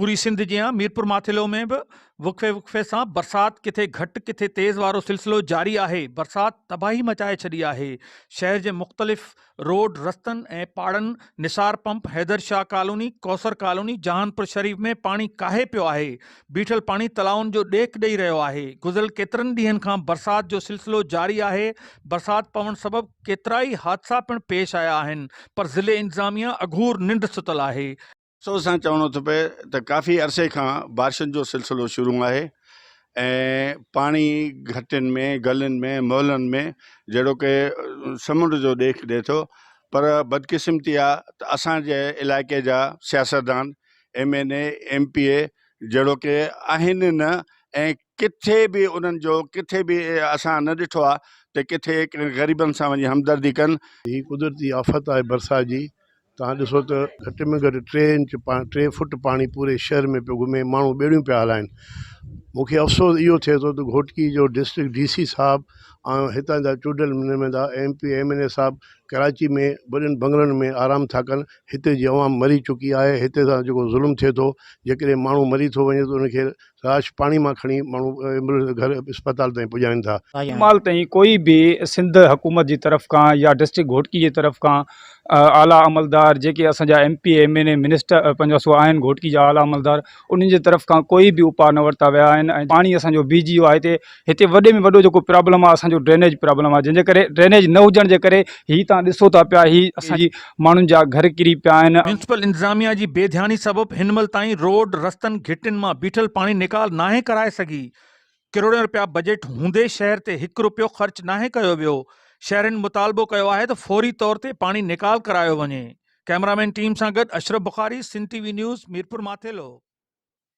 پوري سنڌ جيان ميرپورماٿيلو ۾ به وقفي وقفي سان برسات ڪٿي گهٽ ڪٿي تيز وارو سلسلو جاري آهي برسات تباهي مچائي ڇڏي آهي شهر جي مختلف روڊ رستن ۽ پاڙن Nisar pump Haider Shah colony Kausar colony Jahanpur Sharif ۾ پاڻي ڪاهي پيو آهي بيٺل پاڻي تلائن جو ڏيک ڏئي رهيو آهي گذريل ڪيترن ڏينهن کان برسات جو سلسلو جاري آهي برسات پوڻ سبب ڪيترائي حادثا پڻ پيش آيا آهن پر ضلعي انتظاميه اگهور ننڊ ستل آهي سو سان چوڻو ٿو پئي ته ڪافي عرصي کان بارشن جو سلسلو شروع آهي ۽ پاڻي گهٽين ۾ گلين ۾ محلن ۾ جهڙو ڪي سمنڊ جو ڏيک ڏي ٿو پر بدقسمتي آ ته اسان جي علائقي جا سياستدان M N A M P A جهڙو ڪي آهن ئي نه ۽ ڪٿي به انهن جو ڪٿي به اسان نه ڏٺو آ ته ڪٿي غريبن سان وڃي همدردي ڪن. هي قدرتي آفت آهي برسات جي توهان ڏسو ته گهٽ ۾ گهٽ ٽي انچ ٽي فٽ پاڻي پوري شهر ۾ پيو گهمي ماڻهو ٻيڙيون پيا هلائين مون کي افسوس اهو ٿئي ٿو ته گهوٽڪي جو ڊسٽرڪٽ ڊي سي صاحب ۽ هتان جا چونڊيل نمائندا M P M N A صاحب ڪراچي ۾ وڏن بنگلن ۾ آرام ٿا ڪن هتي جي عوام مري چڪي آهي هتي سان جيڪو ظلم ٿئي ٿو جيڪڏهن ماڻهو مري ٿو وڃي ته ان کي راش پاڻي مان کڻي ماڻهو ايمبولينس گهر اسپتال تائين پڄائين ٿا. هن مهل تائين ڪوئي به سنڌ حڪومت جي طرف کان يا ڊسٽرڪٽ گهوٽڪي جي طرف کان اعليٰ عملدار جيڪي اسان جا M P M N A minister پنهنجا سو آهن گهوٽڪي جا اعليٰ عملدار انهن جي طرف کان ڪوئي به اپاء نه ورتا ويا آهن ۽ پاڻي اسان جو بي جي او آهي تي هتي وڏي ۾ وڏو جيڪو پرابلم آهي اسان جو ڊرينيج پرابلم آهي جنهن جي ڪري ڊرينيج نه هجڻ جي ڪري هي تان ڏسو ٿا پيا هي اسان جي ماڻهن جا گهر ڪري پيا آهن. ميونسپل انتظاميا جي بي ڌياني سبب هن مهل تائين روڊ رستن گهٽين مان بيٺل پاڻي نيڪال ناهي ڪرائي سگهي ڪروڙين رپيا بجيٽ هوندي شهر تي هڪ رپيو خرچ ناهي ڪيو ويو شهرين مطالبو ڪيو آهي ته فوري طور تي پاڻي نيڪال ڪرايو وڃي ڪئميرامين ٽيم سان گڏ Ashraf Bukhari Sindh TV news Mirpur Mathelo.